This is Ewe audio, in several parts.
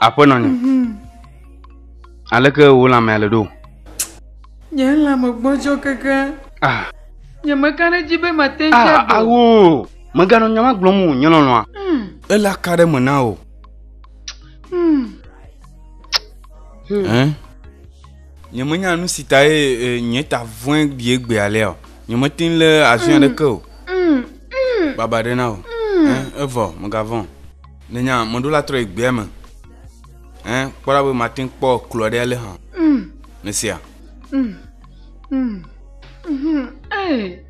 Aƒenɔ nye. Mhm. Aleke wò lãmea le ɖo? Nye lãme gbɔdzɔ keke. Ah. Nyemeka ɖe edzi be mate ŋu ah, ado. Awo. Mèganɔ nya ma gblɔm o, nye lɔlɔ̃a. Hmm. Ele aka ɖe me na o. Hmm. Hmm. Nye menya nu si ta ye e, nye ta vɔe bie gbe alea o. Nye mete ŋu le azɔe aɖeke o. Baba ɖe na o. Evɔ, mègavɔ̃. Nènya mɔɖola trɔ yi gbea me. Kpɔ ɖa be mate ŋu kpɔ klo aɖe alé hã. Nèsea? Mm. Mm. Mm. Mm. Hey.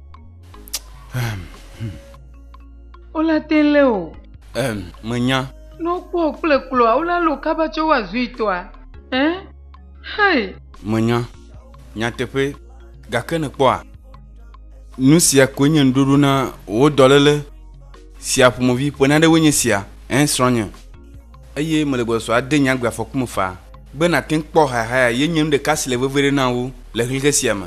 Wola te lé o. Ɛm, menya. Ne wokpɔ wò kple kloa, wola lé wò kaba tsɔ woa zuitɔa. Ɛ? Hei. Menya. Nyateƒee. Gake nèkpɔa? Nu sia koe nye ŋuɖoɖo na wò dɔléle sia ƒomevi. Ƒe naɖe woe nye sia, ẽ, srɔ̃nye. Eye mele gbɔsɔsɔ ade nye agbe afɔku me faa. Be nàte ŋu kpɔ hayahaya ye nye nu ɖeka si le vevieɖe na wò le ʋlihɛ sia me.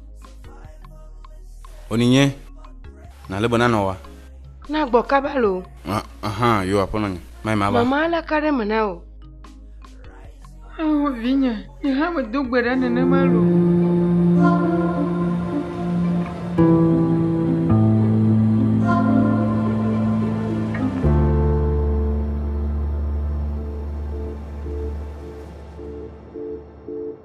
Oni nye na lebe na nɔwa. Na gbɔ kaba lo. Aha, yo aƒe nɔ nye. Mai ma ba. Mama la ka ɖe me na o. Awo vinye, mi hã me do gbe ɖa nenema lo.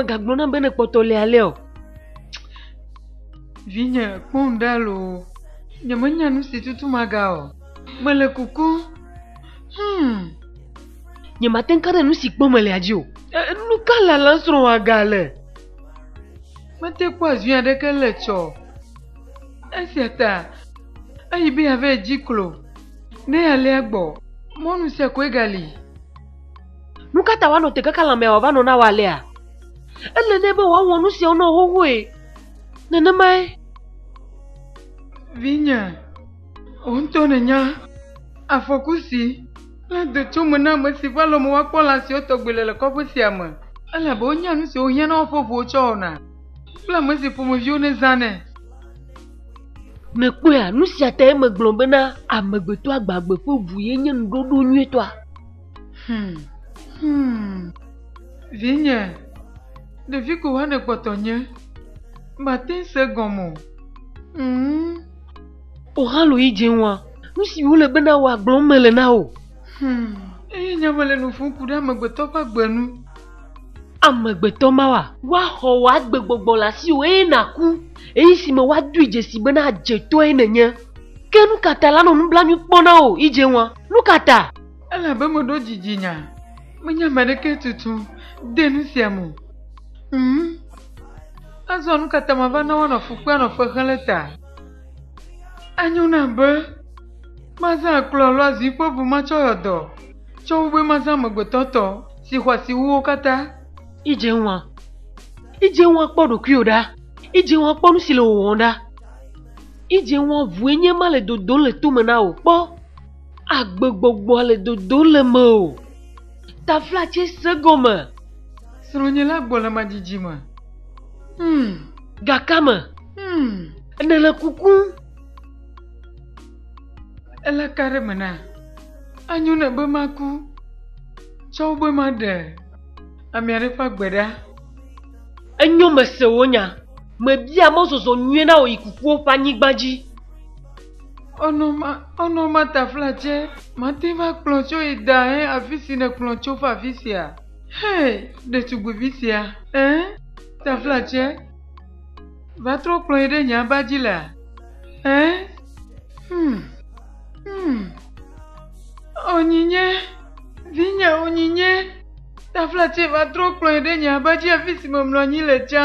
megagblɔ nam be ne kpɔtɔ le alɛ o. vinye kpɔm ɖa lo nyemenya nu si tutu maga o mele kuku hmm. Nye mate ŋu ka ɖe nu si kpɔm mele dzi o. E, nu ka lalam srɔ̃a gale? Mete kpɔ azui aɖeke le tsɔ. Esia ta eyi be yeava edzi klo ne alea gbɔ. Mɔnu sia koe gali. Nu ka ta woanɔ te kaka lãmea wòava nɔ na wɔ alea? Ele nɛ be wòawɔ nu siawo nɔ xoxoe. Nenemae. Vinye, wò ŋutɔ nènya afɔku si. Kple do tso me na ame si ƒe alɔme woakpɔ lã siwo tɔgbi le le kɔƒe sia me. Elabe wonya nu siwo hiã na woƒe ʋuwo tsɔ wɔna. Kple ame si ƒomeviwo nèzãnɛ. Nèkpɔea? Nu sia tae megblɔ bena amegbetɔ agbagbe ƒe ʋu ye nye nuɖoɖo nyuitɔa. Hum, hum, vinye, ɖevi ko hã nèkpɔtɔ nye. Màte ŋu se egɔme o. Hum. O haloyi dze ŋua, nu si wole be na wò agblɔm mele na wò. Hmm, eye nya mele nu ƒom ku ɖe amegbetɔ ƒe agbe nu. Amegbetɔ mawa. Woaxɔ wò agbegbɔgbɔ le asiwò eye nàku, ɣeyiɣi si me woadoe dzesi bena adzetɔe nènye. Ke nu ka ta la nɔ nublanui kpɔ na wò, yi dze ŋua? Nu ka ta? Elabe meɖo dzidzi nya, menye ame aɖeke tutu de nu sia me o. Hmm, azɔ nu ka ta mava na woanɔ fu kpem anɔ fe xem le ta? Anyo nam be mazã akplɔ alo azi ƒe ʋu ma tsɔ yɔ dɔ, tsɔ wu be mazã amegbetɔ tɔ si xɔ asi wu wo katã. Edze ŋua. Edze ŋua kpɔ ɖokuiwò ɖa. Edze ŋua kpɔ nu si le wò wɔm ɖa. Edze ŋua ʋue nye ma le dodom le tome na wò. Kpɔ, agbegbɔgbɔa le dodom le mewò. Taflatse se gɔme. Srɔ̃nye la gbɔ le madidi me. Hmm, gakame. Hmm, ene le kuku. Ele ka ɖe me na? Anyo ne be maku. Tsɔ be maɖe ame aɖe ƒe agbe ɖa. Enyo mese wo nya. Mebia mɔzɔzɔ nyuie na wò yi kukuwo ƒe anyigba dzi. Ɔnɔ ma, ɔnɔ ma tafla tse, mate va kplɔ tso yi da he afi si nèkplɔ tso va afi sia. Hee, ɖetugbuivi sia! Ẽ, taflatse, va trɔ kplɔ yi ɖe nye aba dzi lea? Ẽ, hmm, hmm, onyinye, vinye, onyinye, taflatse, va trɔ kplɔ yi ɖe nye aba dzi afi si memlɔ anyi le tsã.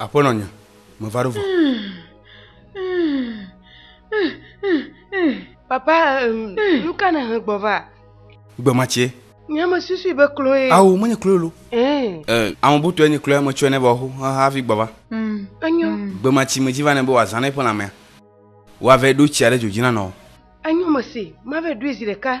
Aƒenɔ nye, meva ɖo vɔ. Papa, nu ka nèhe gbɔ va? Gbe ma tsie. Nye me susui be kloe. Ao, menye kloe lo. Ee, ame butɔe nye kloe metsɔe nɛ be wòaho hafi gbɔ va. Enyo. Gbe ma tsi medzi va nɛ be wòazã na eƒe lãmea. Woavɛ ɖo tsia ɖe dzo dzi na nɔ. Enyo mese, mavɛ ɖoe zi ɖeka.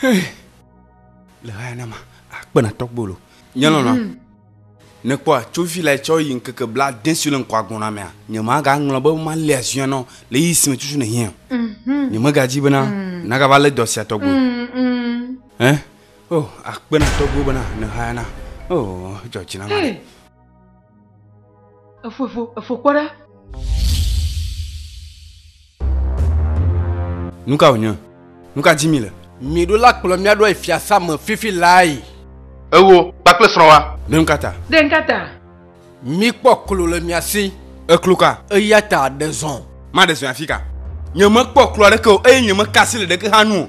Hey. Le haya na ma, akpe na tɔgbolo. Nye lɔla. Mm -hmm. nekpɔ atsovi la tsɔ yi ŋkeke bla de si le ŋkɔ agbɔna mea nye ma ga ŋlɔ be ma le azuya nɔ le yi si me tutu ne hiɛ mhm. nye me ga dzi bena mhm. na ga va le dɔ sia tɔgbe mhm, eh oh akpena tɔgbe bena ne haya na oh jɔ dzi na ma Efo efo efo kpɔ ɖa. Nu ka wònye? Nu ka di mi le? Mìɖo la kplɔ mía ɖoae fiasã me fifi lae. Ewò kpakple srɔ̃wòa. Ɖe nuka ta? Ɖe nuka ta? Míkpɔ klo le mia si. Eklo ka? Eya ta ɖe zɔ̃. Maɖe zɔe afika? Nyemekpɔ klo aɖeke o, eye nyemeka asi le ɖeke hã nu o.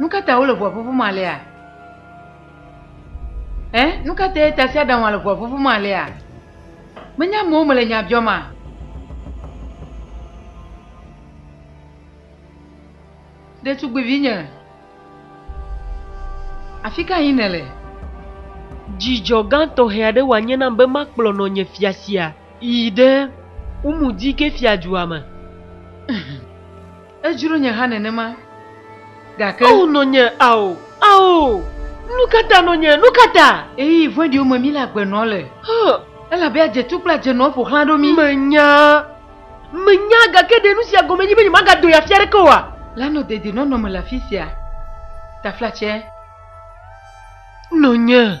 Nu ka ta wole ʋua ƒuƒum alea? Ɛ? Nu ka tae tasiaɖamwa le ʋua ƒuƒum alea? Menye amewo mele nya biɔma? Ɖetugbivinye, afi ka yim nèle? Dzidzɔ gã tɔxɛ aɖe wòanye nam be makplɔ nɔnye fia sia yi ɖe Umudike fiadua me. Edzro nye hã nenema, gake. Ao nɔnye, ao, ao! Nukata nɔnye, nukata? Ɣeyiɣi vɔ̃ɖiwo me míle agbe nɔ le. Hã. Elabe adzetu kple adzenɔwo ƒo xlã ɖo mí. Menya, menya, gake ɖe nusia gɔme nye be nyemagado yi afi aɖeke oa? Lanɔ dedienɔnɔ me le afisia, taflatse. Nɔnye.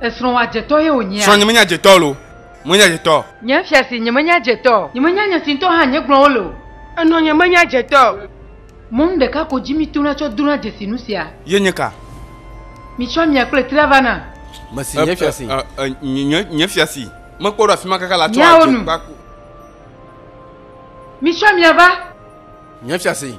Esrɔ̃wòa dzetɔ ye wònyea? Srɔ̃nye menye adzetɔ o, menye adzetɔ. Nye fiase nyemenye adzetɔ. Nyemenya nye si ŋutɔ hã nye gblɔ wole o. Enɔ nyemenye adzetɔ. Mɔnu ɖeka ko dzi mitona tsɔ dona dzesi nu sia. Ye nye ka? Mitsɔ amia kple trea va nam. Mesi nye fiase. Nye fiase mekpɔ ɖo afima kaka la tsɔ adze kpaku. Mitsɔ amia va. Nye fiase.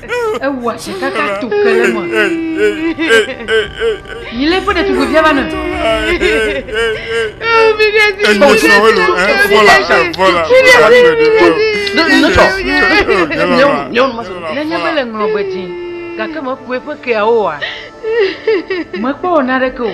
ewɔa tsi kaka to ke le me yi le ƒe ɖetugbui via va ne. nenye mele ŋlɔ be dzi gake mekue ƒe keawo oa mekpɔ wɔ naɖeke o.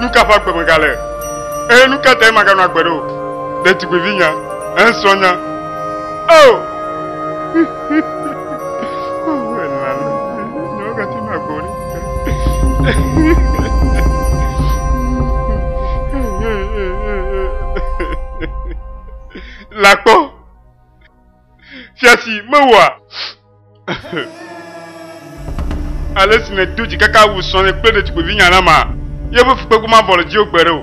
nuka ƒe agbe megale eye nuka tae maganɔ agbe ɖo ɖetugbivi nya esrɔ̃ nya o oh! la kpɔ. Fia si mewɔa ale si nèdo dzikaka wu srɔ̃nye kple ɖetugbuivinya la ma, yeƒe fukpekpe mavɔ le dziwò gbeɖe o.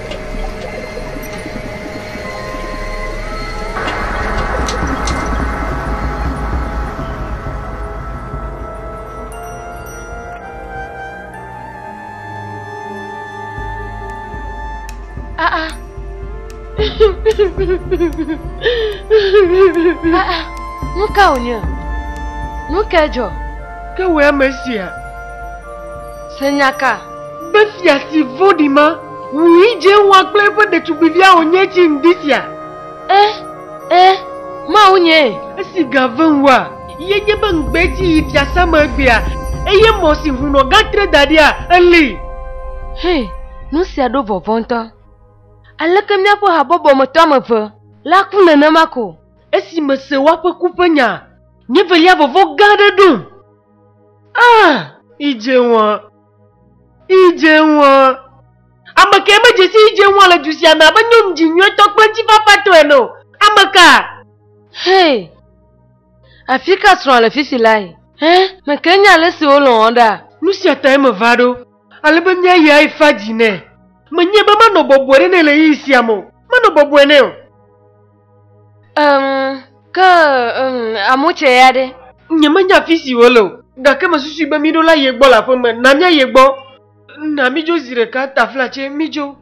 nu ka wònye nu ka dzɔ ke wɔ ame sia Se nya ka? Be fia si vɔ̃ɖi ma wu yi dze wa kple eƒe ɖetugbivia wònye tsi ŋdi sia? Ẽ, ẽ, mawunyee. Esi ga vem wua, ye nye be ŋugbe tsi yi fiasã me egbea, eye mɔ si hunɔ ga tre da ɖia, eli. Hĩ, nu sia ɖo vɔvɔ̃ ŋutɔ. Aleke míaƒe habɔbɔ me tɔ ame eve la ku nenema ko? Esi mese woaƒe ku ƒe nyaa, nye velia vɔvɔ̃ gã aɖe ɖom. Ah, idze ŋua. Idze ŋua. Ame kae medze si idze ŋua le du sia me abe nyɔnu dzi nyuitɔ kple ŋutifafatɔ ene o? Ame ka? Hey, afi ka srɔ̃a le fifi lae? Hẽ, mèke nya ale si wolɔ̃ wò ɖaa? Nu sia tae meva ɖo, ale be míayi afa dzi nɛ. Menyae be manɔ bɔbɔe ɖe nɛ le ɣeyiɣi sia me o. Manɔ bɔbɔe nɛ o. Um, ke um, amotsɛ ya ɖe? Nyemenya fi si wòle o, gake mesusui be míɖo la ye gbɔ le aƒe me. Na míayi egbɔ. Na mídzo zi ɖeka, taflatse, mídzo.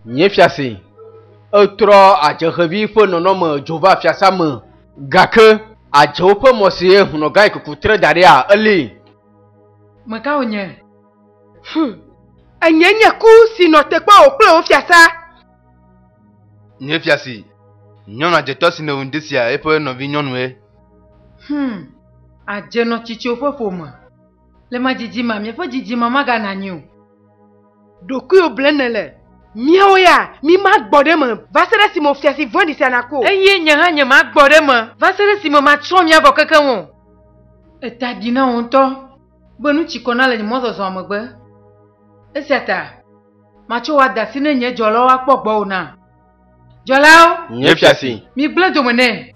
Nye fiase, etrɔ adze xevi ƒe nɔnɔme dzo va fiasea me, gake adzewo ƒe mɔ si eye hunɔgai kuku tre da ɖia, elée. Meka wònye? Hum, enye nye ku si nɔ te kpɔ wò kple wò fiasã. Nye fiasi, nyɔnu adzetɔ si nèwu ŋdi sia eƒe nɔvinyɔnue. Hum, adze nɔ tsitsiowo ƒe ƒome. Le ma dzidzimea miaƒe dzidzime maganɔ anyi o. Ɖokuiwò blem nèle. Míawo ya, mímagbɔ ɖe eme va se ɖe esime wò fiasi vɔ̃ɖi sia naku o. Eye nye hã nyemagbɔ ɖe eme va se ɖe esime matsrɔ̃ mia vɔ kekeŋ o. Èta ɖi na wò ŋutɔ. be nu tsi kɔ na le nye mɔzɔzɔa me be, Esia ta, matso wò ada si ne nye dzɔlawo akpɔ gbɔ o na. Dzɔlawo! Nye fia si! Migblẽ dome nɛ!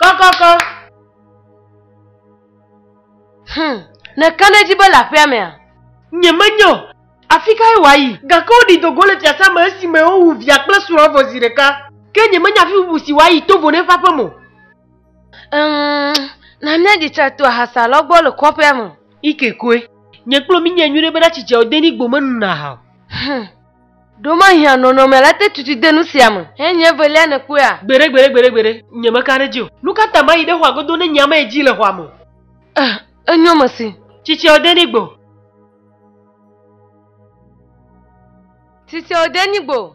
Kɔkɔkɔ. Hum, nèka ɖe edzi be le aƒea mea? Nyemenye o. Afi kae wòayi? Gake woɖi do go le fiasã me esime wowu via kple srɔ̃a vɔ zi ɖeka. Ke nyemenya afi bubu si wòayi to vono eƒe aƒe me o. Ŋ, na míaɖi tsa to ahasa lɔ gbɔ le kɔƒea me. Ike koe. Nye kplɔ mi nyae nyuiɖe bena tsi dzeɔdenigbo menuna aha o. Hum. Ɖomahia nɔnɔme la te tutu de nu sia me. He nye evelia nèkpɔea? Gbeɖe, gbeɖe, gbeɖe, gbeɖe, nyemeka ɖe edzi o. Nu ka ta mayi ɖe xɔa godo ne nyea mayi dzi le xɔa me o? Eh, enyo mesi. Tsitsia ode ni gbo. Tsitsia ode ni gbo.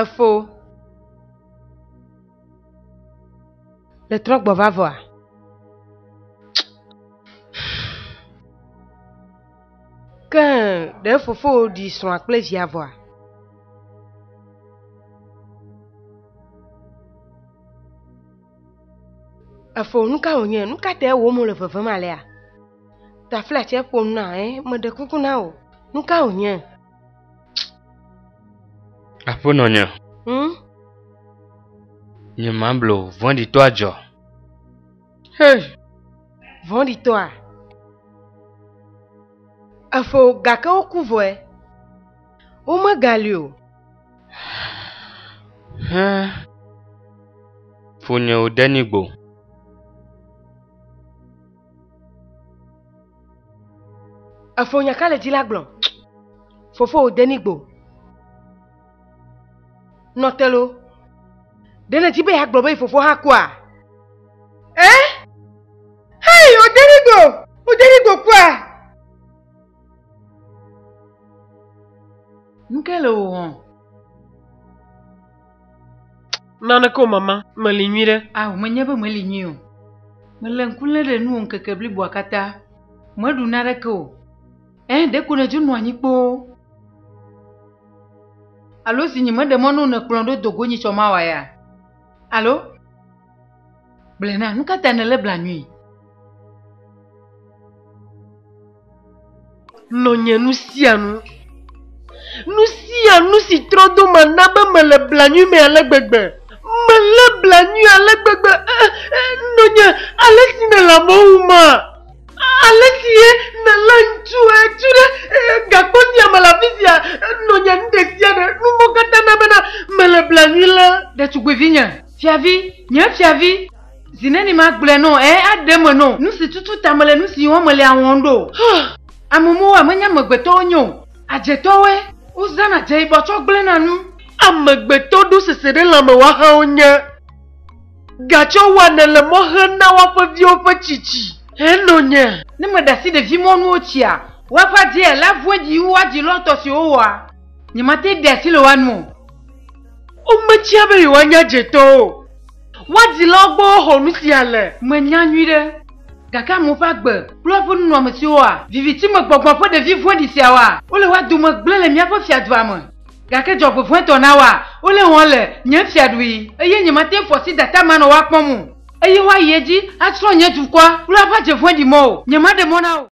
Efo. Le trɔgbɔ va vɔa? Ke ɖe fofowò ɖi srɔ̃a kple via vɔa? Efo, nu ka wònye? Nu ka tae wò mo le vevem alea? Taflatse ƒom na, ẽ, meɖe kuku na wò. Nu ka wònye? Aƒenɔ nye. Hmm? Nye mablo vɔ̃ɖitɔ adzɔ. Hey, vɔ̃ɖitɔa. Efo gake woku vɔe. Womegali o. Hẽ. Fonyewo denigbo. Efo nya ka le dzi la gblɔ. Fofo wò denigbo. Nɔtelo. Ɖe ne dzi be yeagblɔ be fofo hã kua? Ɛ? Hei, wò denigbo! Wò denigbo kua! Nuke le wò wɔm? Naneke o mama, meli nyui ɖe. Ah, menye be meli nyui o. Mele ŋku lé ɖe nuwò ŋkeke bliboa katã. Meɖu naneke o. Ɛ̃, ɖeko nèdzo nɔ anyi kpoo. Alo zi nyi meɖe mɔ na wò nèkplɔm ɖo do go nyi tsɔ mawa ya? Alo? Gblɔe na, nu ka ta nèlé blanui? Lɔ̃ nye nu sia nu. Nu sia nu si trɔ do ma na be mele blanui me ale gbegbe. Melé blanui ale gbegbe. Eh, eh, nɔnye, ale si nèle amewo ŋu ma. Ale si ye nèlé ŋutsu etu ɖe eh, gakpo sia me le afi sia. Nɔnye, nu ɖe sia ɖe, nu mɔ katã na bena mele blanui le ɖetugbuivinye. Fiavi, nye fiavi, zi neni magblɔe nɔ ɛ aɖe me nɔ nu si tutu ta mele nu si wɔm mele a wɔm ɖo? Amemowo ame nye amegbetɔ wonye o, adzetɔwoe, wozãna dze yibɔ tsɔ gblẽna nu. Amegbetɔ ɖo sese ɖe lãme woahawo nye, gatsɔ wɔanɛ le mɔ hem na woaƒe viwo ƒe tsitsi henɔ nye. Ne meɖe asi ɖevi mɔ nuwo tsia woaƒe adzea la vue dzi wu woadzi lɔtɔ siwo woa, nyemate ɖe asi le woa nu o. Wometsia be yewoanya dzetɔ o. Woadilawo gbɔ woxɔ nu sia le. Menya nyuiɖe. Gake amewo ƒe agbe kple woƒe nunɔamesiwoa? Viviti me gbɔgbɔ ƒe ɖevi vɔ̃ɖi siawoa? Wole woa dome gblẽ le míaƒe fiadua me. Gake dzɔgbevɔ̃etɔ nawoa? Wole wɔm le nye fiaɖui, eye nyemate ŋu fɔ sidata manɔ woa kpɔm o. Eye woayi edzi atsrɔ̃ nye dukɔa kple aƒe dze vɔ̃ɖi mɔwo. Nyemaɖe mɔ na wo.